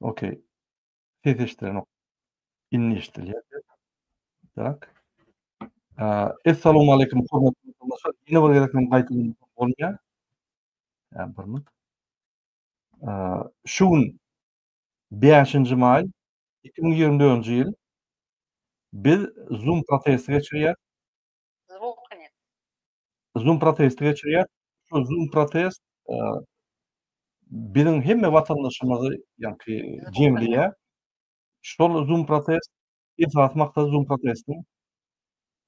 Okey. Ses eşidilenok. Indi eşidilýär. Tak. Essalowmaleýkim, hormatly tamaşaçylar. Ýene bir gezek men gaýtadan bolýar. Ýa, bir minut. Şu gün 5-nji maý, 2024-nji ýyl. Biz Zoom protesti geçirýäris. Zoom protesti geçirýäris. Şu Zoom protest biziň hemme watandaşymyzy, ýagny jemleýär. Şol Zoom protest esasy maksady Zoom protestiň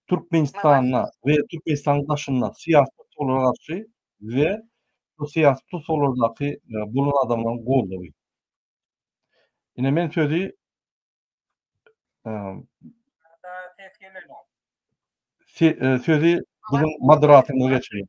Türkmenistanda we Türkmenistanyň daşynda syýasy tussaglara garşy we bu syýasy tussaglardaky bolan adamlaryň goldawy. Ine men sözi sözi biziň moderatorymyza geçirýän.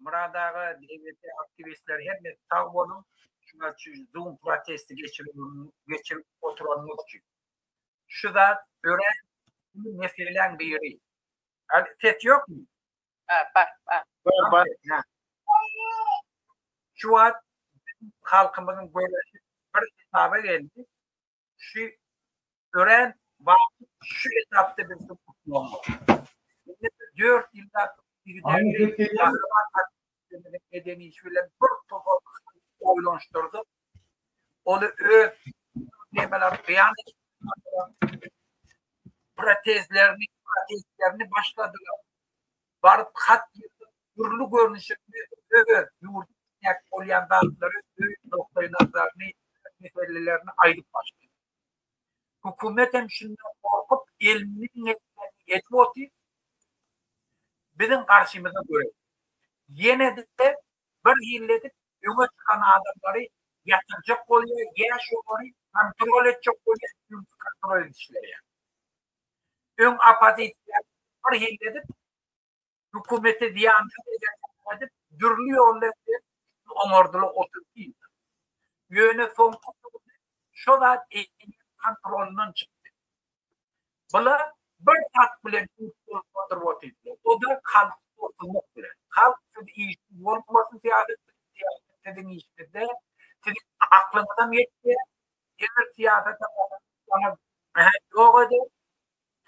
Murad aga, DBT aktiwistleri hemmesi sag boluň, şular şu Zoom protesti geçirip oturanyňyz üçin. Şu zat örän uly meseleň biri. Ses ýokmy? Bar, bar, bar. Bar, bar. Şu wagt halkymyzyň göreşi bir esaba geldi. şu örän wagtly şu etapda biz Indi dört ýylda eden iş bilen bir topar oýlanyşdyrdyk. Ony öz nemeler beýan protezlerini protezlerini başladylar. baryp hat ýazyp, dürli görnüşini öz ýurdy isläp bolýan zatlary öz nukdaýnazaryny, meselelerini aýdyp başlaýar. Hökümet hem şundan gorkup eliniň etmänini edip otyr, biziň garşymyza göreş. Ýene-de bir hili edip öňe çykan adamlary ýatyrjak bolýar, ýa şolary kontrol etjek bolýar, çünki kontrol edişleri ýa. Öň oppozisiýa bir hili edip, hökümete zyýansyz edendigini aýdyp, dürli ýollar bilen üstüni oňardylar otuz ýylda. Ýöne soňky döwürde şo zat eýýäm kontrolyndan çykdy. Bular bir zat bilen üns bolup oturyp otyrdylar, o-da halky gorkuzmak bilen. Halk siz işsiz bolmasyn, syýasat bilen, syýasat siziň işiňizde, siziň aklyňyzam ýetýär, Emir syýasata gaty gyzyklanam, mähek ýok eder,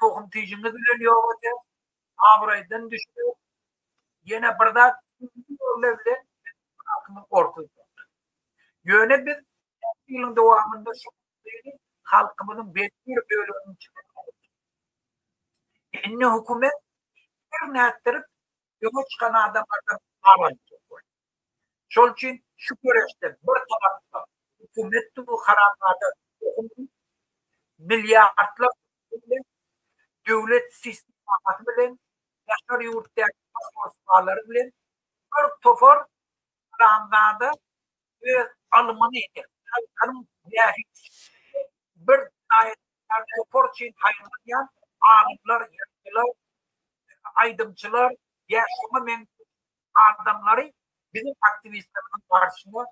tohum-tijiňiz bilen ýok eder, abraýdan düşer, ýene bir zat ikinji ýörle bilen biziň halkymyz orsyzdyr. Ýöne biz näçe ýylyň dowamynda şu masalyny halkymyzyň belli bir böleginiň içinden alyp çykdyk. Indi hökümet her nätdirip öňe çykan adamlardan gabaw topar. Şol üçin şu göreşde bir tarapda hökümet dury harabada hökümet milliardlar pul bilen döwlet sistemasy bilen daşary ýurtdaky konsulhanlary bilen bir topar Haramzada öz alymyny halkyň bähbitine bir taýdan topar üçin paýlaşýan alymlar, ýazyjylar, aýdymçylar, ýa şuňa meňzeş adamlary biziň aktiwistlerimiziň garşyna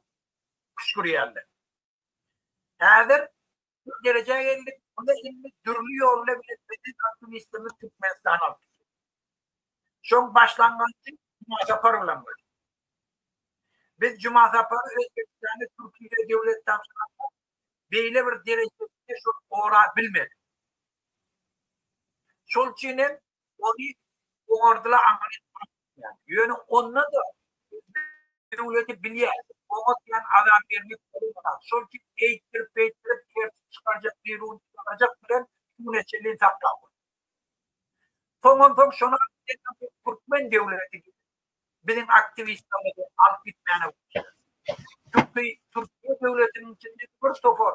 küşgürýärler. Häzir şu derejä geldik, muny indi dürli ýolla bilen biziň aktiwistimiz Türkmenistana alyp gitdi. Şoň başlangyjy Jumasapar bilen boldy. Biz Jumasapary Özbegistana Türkiýede döwlet tabşyranda beýle bir derejesinde şol gora bilmedik. Şol üçin hem ony oňardylar aňryýetmän gitýär. Ýöne onda-da özbek döwleti bilýär, oňa diýen azar bermek bolmaz. Şol üçin eýtdirip-beýtdirip tertip çykarjak, biruny çykarjak bilen şugüne çenli saklap otyr. Soňunsoň şony alyp gitmän soň türkmen döwleti gelip biziň aktiwistlerimizi alyp gitmäne gitýär. Çünki Türkiýe döwletiniň içinde bir topar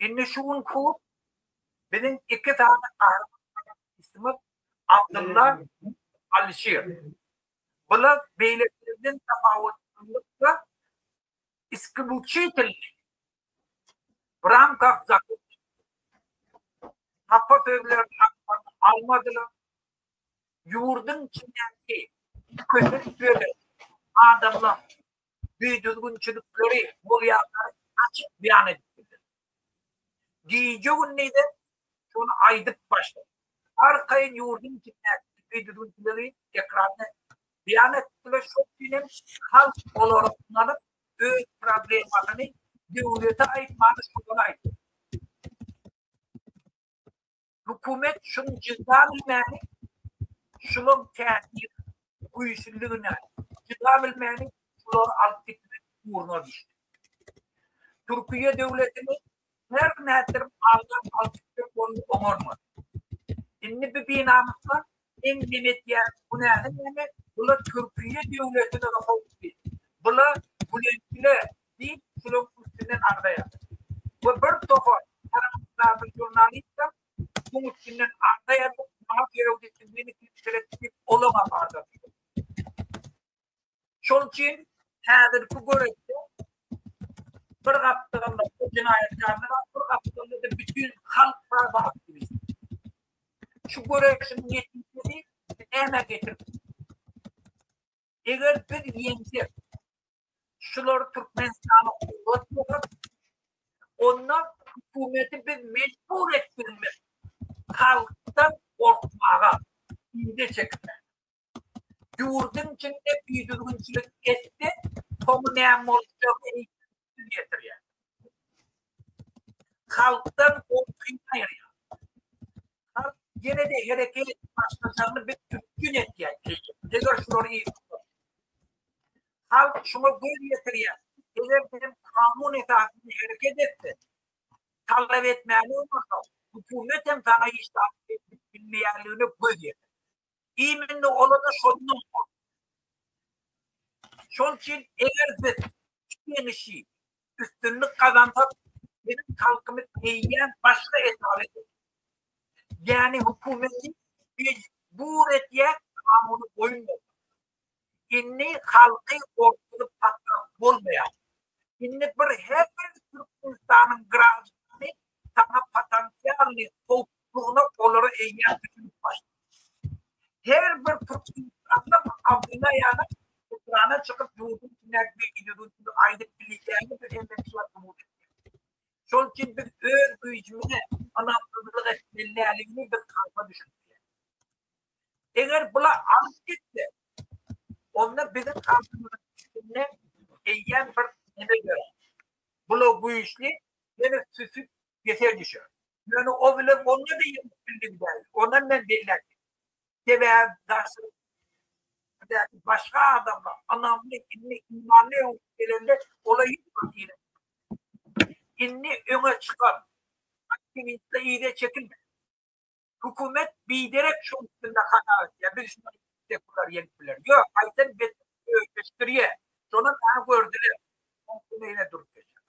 Indi şu gün hut biziň iki sany gahrymanysyzmyz Abdylla, Alyşir. Bular beýlekilerden tapawutlylykda iskibuçitelni, w ramkah zakow, hapa sözlerini aňmagyny almadylar, ýurduň içindäki kösek bölek adamlar düýdüzgünçilikleri bolýandygyny açyk beýan edip bildiler. Gije-gündize şony aýdyp başladyk. Arkaýyn ýurduň içindäki düýdüzgünçiligi ekranda beýan etdi we şol gün hem halk olara ynanyp, öz problemasyny döwlete aýtmany şolara aýtdy. Hökümet şuny jyda bilmäli, şulaň täsir güýçlüligine jyda bilmäli, şulary alyp gitmek ugruna düşdi. Türkiýe döwletini her nätdirip agdap alyp gitmek boldy oňarmady. Indi bu binamyska Sen neme etýäň? Bu näme näme? Bula Türkiýe döwletine howply. Bula Bülentine diýip şulaň üstünden agzaýar. We bir tohar tarapdar žurnalistem şuň üstünden agzaýar, maňa söýew diýip, meni tirskeletdi diýip, olaňam agzadylar. Şol üçin häzirki göreşde bir gapdalynda bu jenaýatkarlar bar, bir gapdalynda-da bütin halk bar, bu aktiwistler. Şu göreşiň netijesi nämä getirip biler? Eger biz ýeňsek, şular Türkmenistana kuwwat bolar, onda hökümeti biz mejbur etmelidiris halkdan gorkmaga, yza çekmäge. Ýurduň içinde bidüzgünçilik etse, soňy näme boljagy eýsem ýetirýär. Halkdan gorky aýyrýar. Halk ýene-de hereket edip başlajagyny biz üpjün edýäs eýýäm, eger şular yz tutarsa. Halk şuňa göz ýetirýär. Eger hem kanun esasynda hereket etseň, talap etmäni unursam, hökümet hem saňa hiç zat edip bilmeýänligine göz ýetirýär. Imminde olada şondan bor. Şon üçin eger biz işi üstünlik kazansak, bizim halkymyz eýýäm başga esasy ýani hökümeti mejbur etýär kanuny boýun Indi halky gorkuzyp saklap bolmaýar. Indi bir her bir Türkmenistanyň graždany saňa potensialnyý howplulygyna olary eýýäm düşünip başlaýar. Her bir türkmenistanly Abdyllaýanyň ekrana çykyp ýurduň tüňäp beýdügini aýdyp bilýäni bir hemmetjä subut etmekdir. Şol üçin biz öz güýjümize ynamsyzlyk etmelidigini biz halka düşündirýäris. Eger bular alyp gitse, onda biziň halkymyzyň içinde eýýäm bir neme ýör. Bula güýçli ýene süsüp ýeser düşer. Ýöne o bilen onda-da ýeňip bildik däl. Onam men belläpdim. Sebäbi daşary ýurtlardaky başga adamlar ynamly, indi imanly öňüp gelende ola hiç wagt ýeňilmezdi. Indi öňe çykan aktiwistler yza çekilmedi. Hökümet biderek şoň üstünde hata etýär, biz şuny etsek bular ýenip biler. Ýok, aýtsam betbagtlygy özleşdirýär. Şonam bar gördüler. Şoň üstünde ýene durup geçýär.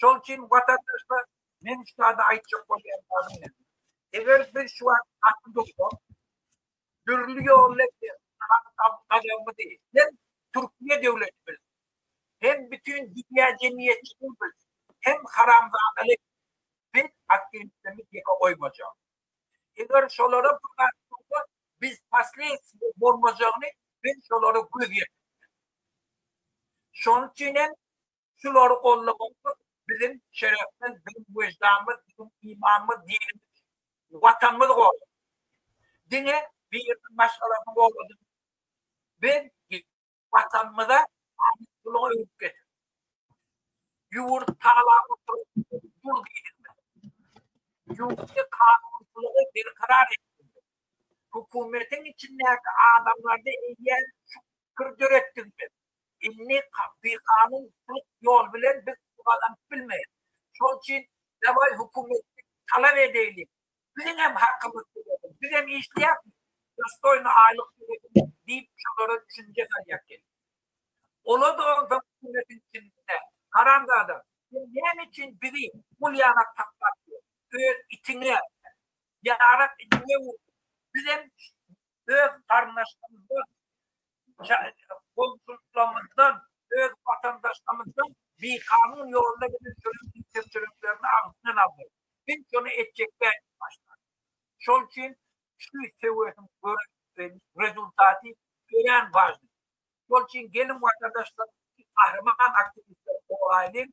Şol üçin watandaşlar, men şu zady aýtjak bolýan zadym näme? Eger biz şu wagt gaty dursak, dürli ýolla gazanmady. Hem Türkiýe döwleti bilsin, hem bütin dünýä jemgyýetçiligi bilsin, hem haramzadalyk biz aktiwistlerimiz ýeke goýmajak. Eger şolara bir zat bolsa, biz pasleýtsi bolmajagyny men şolara göz ýetirtdim. Şonuň üçin hem Şulary gollamagymyz biziň şerefmiz, biziň weždanymyz, biziň imanymyz, dinimiz, Watanymyzy goramak. Diňe biriniň maşgalasyny goradyk. Biz Watanymyza amatlylygy öwrüp getirdik. Ýurt tagalap oturyp dur diýilmez. Ýurtda kanunçylygy berkarar etdik. Hökümetiň içindäki adamlarda eýýäm şu pikiri döretdik biz. Indi kat'y kanun hukuk ýol bilen biz pul gazanyp bilmeýäs. Şol üçin dawaý hökümetden talap edeýli, biziň hem hakymyz tölesin, biz hem işleýäsmi, dostoýny aýlyk tölesin diýip şolara düşünje salýar gelip. Ola-da onsoň hökümetiň içinde, Haramzada, sen näme üçin bizi bul ýana taklap ýör, öz itiňe, ýarak itiňe öwürdiň, biz hem öz garyndaşlarymyzdan, goňşularymyzdan, öz watandaşlarymyzdan bikanun ýolda giden çörek kepjeliklerini agzyndan aldy. Biz şony etjek däldik başda. Şol üçin şu söweşiň rezultaty örän wajyp. Şol üçin geliň watandaşlar iki gahryman aktiwistler goraýlyň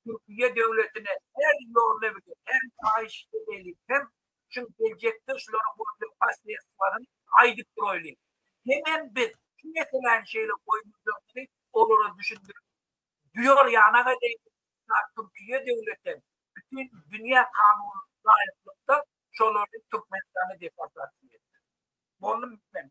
Türkiýe döwletine her ýolla bize her paýyş edeliň hem şun geljekde şularyň bolja paslerswalary aýdyp duraýlyň hemem biz şu meseläni şeýle goýmajakdygy olara düşündirip duýar ýanak edeýin ta Türkiýe döwletem bütin dünýä kanun laýyklykda şolary Türkmenistana deportasiýa etsin. Boldum men.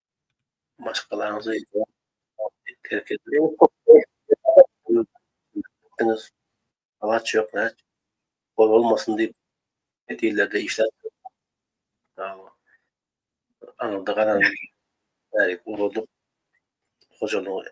Maşgalaňyzy terk etmeýin. Diňiz agaç ýok, näç bol bolmasyn diýip, çet illerde işläp aňyrda galan bärik ugradyp, hojalygy Maşgala.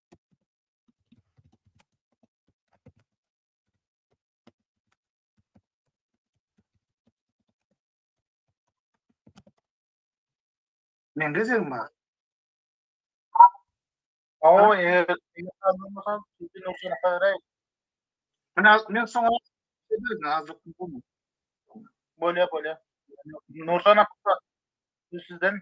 Men gezegim bar. O, eger ýaşalmasam, sizin üçin haýray. Men az, men soňa dedim, azlyk bu. Bolýa, bolýa. Nursan akba, sizden.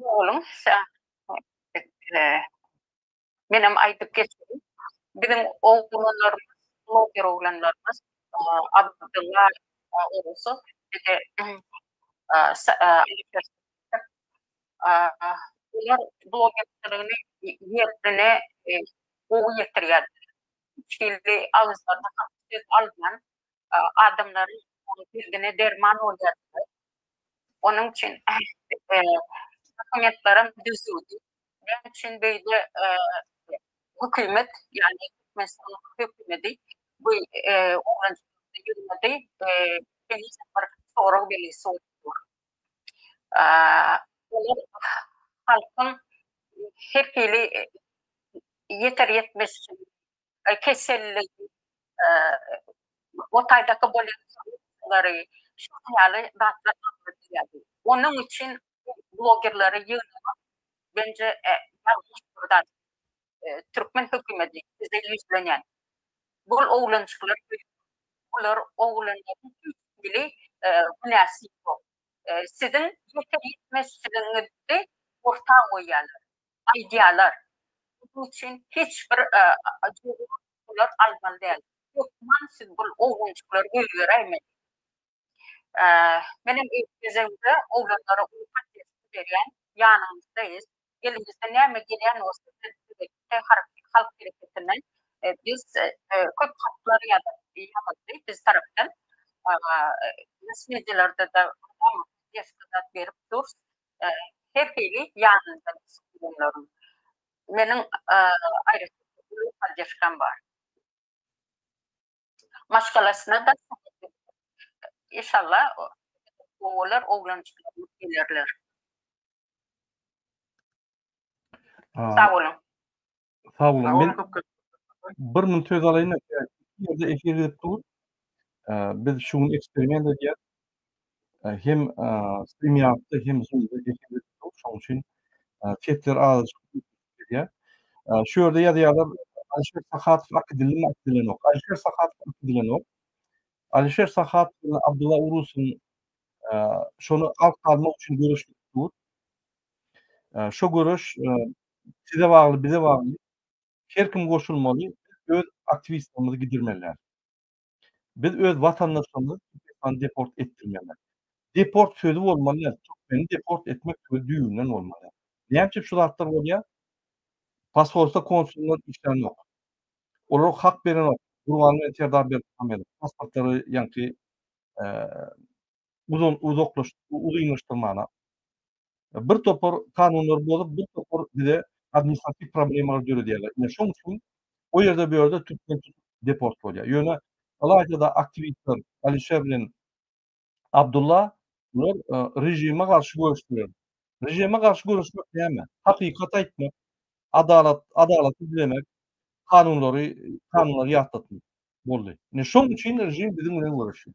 Oglum, menem aýdyp geçeýin. Biziň oglanlarymyz, bloger oglanlarymyz, Abdylla Orusy we-de Alişer Sitdikow, olar blogerçiligini ýerine gowy ýetirýärler. Hiç hili agyzlaryna hak söz alman, adamlaryň derdine derman bolýardylar. Onuň üçin dokumentlerem düzüwdi. Näme üçin beýle hökümet, ýagny Türkmenistanyň hökümeti bu oglanjyklardan ýylmady? Henize bir sorag belgisi bolup dur. Olar halkyň her hili ýeter-ýetmezçiligini keselligi, otaýdaky bolýan korrupsiýalary, şular ýaly zatlar agzyna gelýärdi. Onuň üçin bu blogerleri ýygnamak bence ýalňyş bir zat. Türkmen hökümedi size ýüzlenýän. Bu oglanjyklar öýüp, bular oglanlaryň hiç hili günäsi ýok. Siziň ýeter-ýetmezçiligiňizi orta goýýarlar. aýdýarlar. Munuň üçin hiç bir olar almaly däl. Hökman siz bu oglanjyklary goýberäýmeli. Menem öz gezegimde oglanlara uly patensiýa berýän, ýanyňyzdaýys. Elimizden näme gelýän bolsa biz Türki halk hereketinden biz köp hatlar ýazyldy biz tarapdan. Messenjerlerde-de mydama desktop berip durs. Her hili ýanynda bişip bilenlerim. Meniň aýratyn paddýaşkam bar. Maşgalasyna-da Inşallah gowy bolar, oglanjyklaryňyz gelerler. Sag boluň. Sag boluň. Men bir minut söz alaýyn. Ýerde efir edip dur. Biz şu gün eksperiment edýär. Hem StreamYard-da hem Zoom-da efir edip dur. Şonuň üçin sesler azajyk gidýär. Şu ýerde ýazýarlar, Alişer Sahatow ak edilimi ak edilenok. Alişer Sahatow ak edilenok. Alişer Sahatow bilen Abdylla Urusyň şony ak salmak üçin göreşip dur. Şu göreş Size bagly bize bagly her kim goşulmaly biz öz aktiwistlerimizi gidirmeliäs. Biz öz watandaşlarymyzy Türkmenistana deport etdirmeliäs. Deport sözi bolmalyä türkmeni deport etmek sözi düýbünden bolmalyä. Näme üçin şu zatlar bolýa? Posolstwa konsullar işlänok. Olara hak berenok. Gurbanguly bilen Serdar Berdimuhamedow pasportlary ýaňky uzynlaşdyrmana, bir topar kanunlary bozup, bir topar bize administratiw problemalary döredýärler. Ine, şoň üçin o ýerde, bu ýerde türkmen deport bolýar. Ýöne ylaýta-da aktiwistler Alişer bilen Abdulla bular režime garşy göreşdiler. Režime garşy göreşmek näme? Hakykaty aýtmak, adalat, adalaty dilemek, kanunlary, kanunlary ýatlatmak boldy. Ine, şoň üçin režim biziň bilen göreşýär.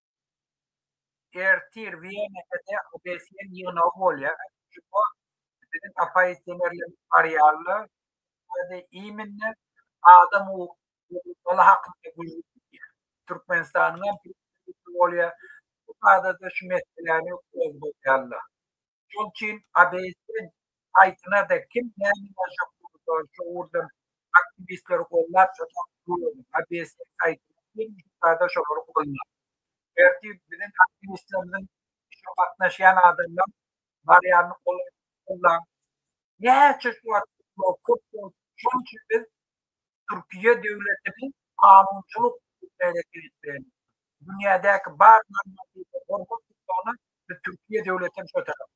Ertir Wienede OBSE-niň ýygnagy bolýar. Şuba biziň oppozisionerlerimiz barýarlar. Ýa-da immine adam hukuklary hakynda gürrüň gidýär. Türkmenistanyň hem prezidenti bolýar. Bu barada şu meseläni gozgadýarlar. Şol üçin ABS-iň saýtyna-da kim näme ýazjak bolsa, şo ugurdan aktiwistleri gollap çykyp dur. ABS-iň saýtyna kim çyksa-da şolary gollap. Ertir biziň aktiwistlerimiziň işe gatnaşýan adamlar barýanyny golaý gollaň. Näçe şu wagt köp bolup, şonuň üçin biz Türkiýe döwletiniň kanunçylyk idaresi ýetirýän dünýädäki bar normative gorag tutmagyna biz Türkiýe döwletem şo tarap.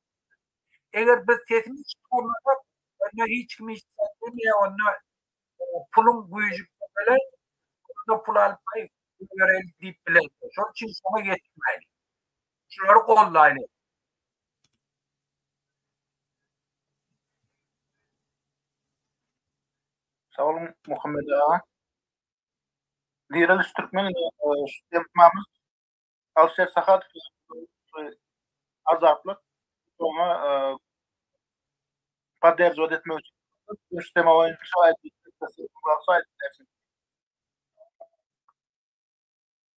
Eger biz sesimizi çykarmasak onda hiç kim hiç zat diýmeýär onda puluň güýji köpelär onda pul alyp haý goýbereli diýip bilersiň. Şol üçin şoňa ýetişmäýli. Şulary goldaýly. Sag boluň Muhammet aga. Direliş Türkmen Eltmamyz Alşer Sahat Azatlyk oňa podderžovat etmek üçin üsteme boýunça aýdyp bersin.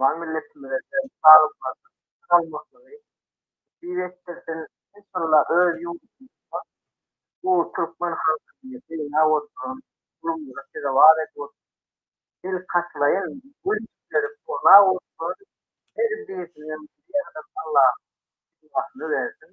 Mehriban milletimize de saglyklarynyň salamatlygyn nesip etdirsin enşalla öz ýurdumyzda bu türkmen halkyny synlap oturan zulumlara sezewar edip oturan belkaçylaýyn wülkleri korlap oturan her birisiniň bir ýerden Allahym penasyny bersin.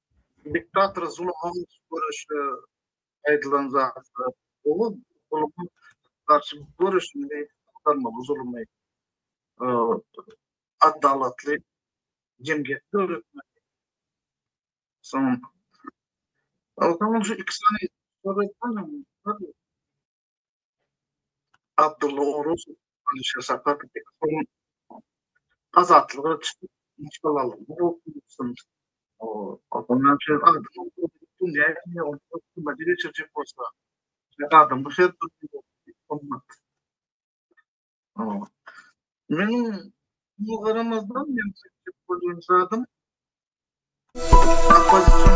Diktator zuluma görüşi aýdylan zatlar. Ol zuluma garşy göreşmeli, agtarmaly zulumy. Adalatly jemgyýet döretmeli. Soň, soň şu iki sany Abdulla Orus, Alişer Sapat, Bekholm, Azatlyga çykyp, maşgalalarynda oturmuşsyn. Ondan şeýle adam dünýä gelýär, ol hukuma geçirjek bolsa, adam bu her bir olmaz. Men bu garamazdan men çekip bolýan zadym. Apazçym.